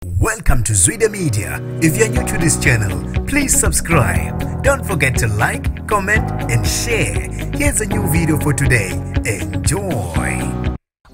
Welcome to Zwide Media. If you're new to this channel, please subscribe. Don't forget to like, comment and share. Here's a new video for today. Enjoy.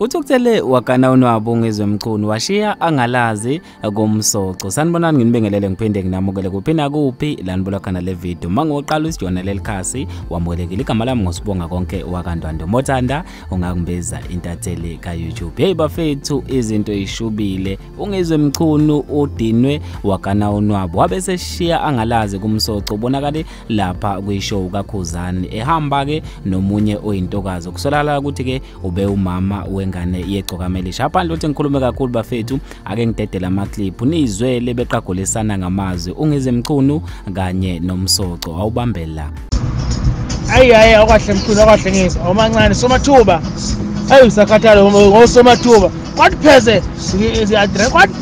Uthukuthele wakana unwabo ngezomchunu washiya angalazi komsoco. Sanibonani nginibingelele ngiphinde nginamukele kuphi na kuphi lanibula khona le video. Mangoqala usijona lelikhasi wamukelekile igama lami ngosibonga konke wakandwando. Mothanda ungakumbiza intatheli ka-youtube heyi bafethu izinto ishubile ungizwe mchunu udinwe wagana unwabo wabe seshiya angalazi kumsoco ubonakale lapha kwishow kakhuzani ehamba-ke nomunye oyintokazi kusolakala ukuthi-ke ube umama wengane yegcokamelisha aphandle ukuthi ngikhulume kakhulu bafethu ake ngidedele amaclip nizwe lebeqagulisana ngamazwi ungize mchunu kanye nomsoco awubambe la ayi ayi awukahle mchunu awukahle ngizwa awumancane somathuba ayi usakhathala ngosomathuba kwathi pheze kwathi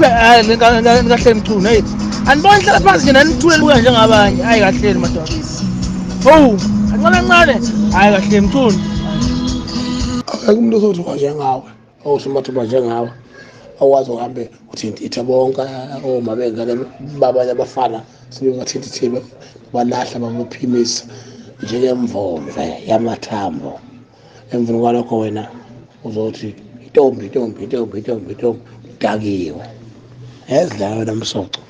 kahle mchunu eyi andibona hlala phansi nje nanithule luya njengabanye ayi kahleni madoda owu kancane kancane hhayi kahle mchunu akumntu ozothiwa njengawe osomathuba njengawe awazi uhambe uthintithe bonke oma bengane babanye abafana sebebathintithile balahla babaphimisa njengemvomve yamathambo emveni kwalokho wena uzothi intombi intombi intombi intombi intombi udakiwe ezidlala wena msoco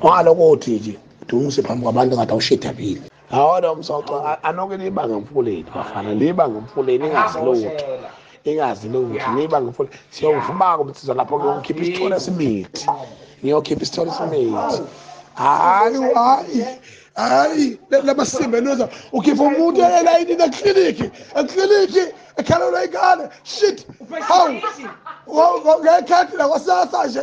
ongalokuthi nje dumise phambi kwabantu ngathi awushidabile Hawu lo msoco anoke liba ngemfuleni bafana liba ngemfuleni ingazi lutho ingazi lutho liba ngemfuleni siyovumaka umsizo lapho ngiyokhipha isithole semithi ngiyokhipha isithole semithi hayi hayi hayi labasimbe loza ukhipha umuntu elayinini ekliniki ekliniki ekhalelwa ingane shit hawu ngekhethi lakwasasa nje